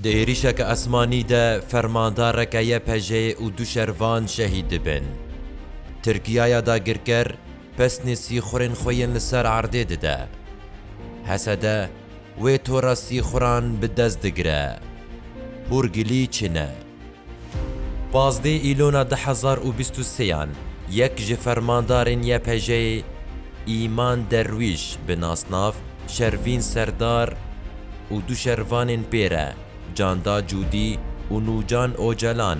Di êrîşeke esmanî de fermandareke YPJ'ê û du şervan şehîd dibin. Tirkiya ya dagirker pesnê sîxurên xwe yên li ser erdê dide. Hesede wê tora sîxuran bi dest digire. Hûrgilî çi ne? Pazdeh Îlona du hezar û bîst û sêyan yek ji fermandarên YPJ'ê Îman Derwîş bi nasnav Şervîn Serdar û du şervanên pê re Canda Cûdî û Nûcan Ocalan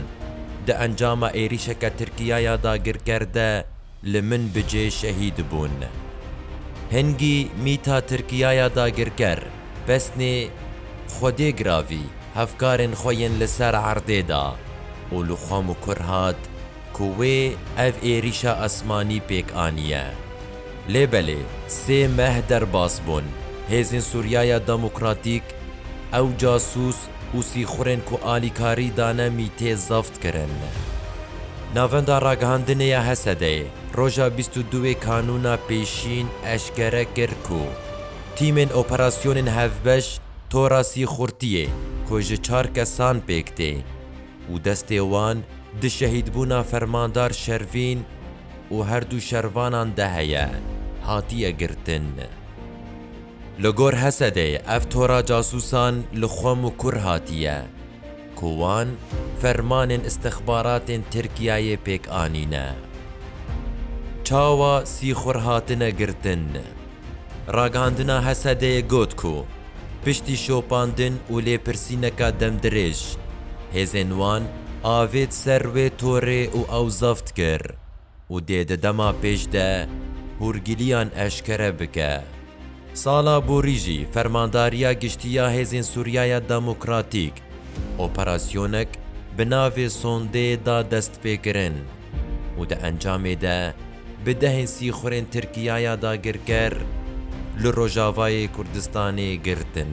di encama êrîşeke Tirkiyaya dagirker de Li Minbicê şehîd bûn. Hingî mîta Tirkiyaya dagirker pesnê Xwedê Giravî hevkarên xwe yên li ser erdê da û li xwe mikur hat ku wê ev êrîşa esmanî pêk aniye. Lê belê sê meh derbas bûn hêzên Sûriyaya Demokratîk ew casûs û sîxurên ku alîkarî dane mîtê zaft kirin. Navenda Ragihandinê ya Hesedeyê roja bîst û duê Kanûna Pêşîn eşkere kir ku tîmên operasyonên hevbeş tora sîxurtiyê ku ji çar kesan pêk tê û destê wan di şehîdbûna Fermandar Şervîn û herdu şervanan de heye, hatiye girtin. Li gor Hesedê ev tora casûsan li Xwem û Kur hatiye ku wan fermanên îstixbaratên Tirkiyeyê pêk anîne. Çawa Sîxur hatine girtin? Ragihandina Hesedeyê got ku piştî şopandin û lêpirsîneka demdirêj, hêzên wan avêt ser wê torê û ew zeft kir. û dê di dema pêş de hûrgiliyan eşkere bike. Sala borî jî Fermandariya Giştî ya Hêzên Sûriyaya Demokratîk operasyonek bi navê Sondê da destpêkirin û di encamê de bi dehên sîxurên Tirkiyaya dagirker li Rojavayê Kurdistanê girtin.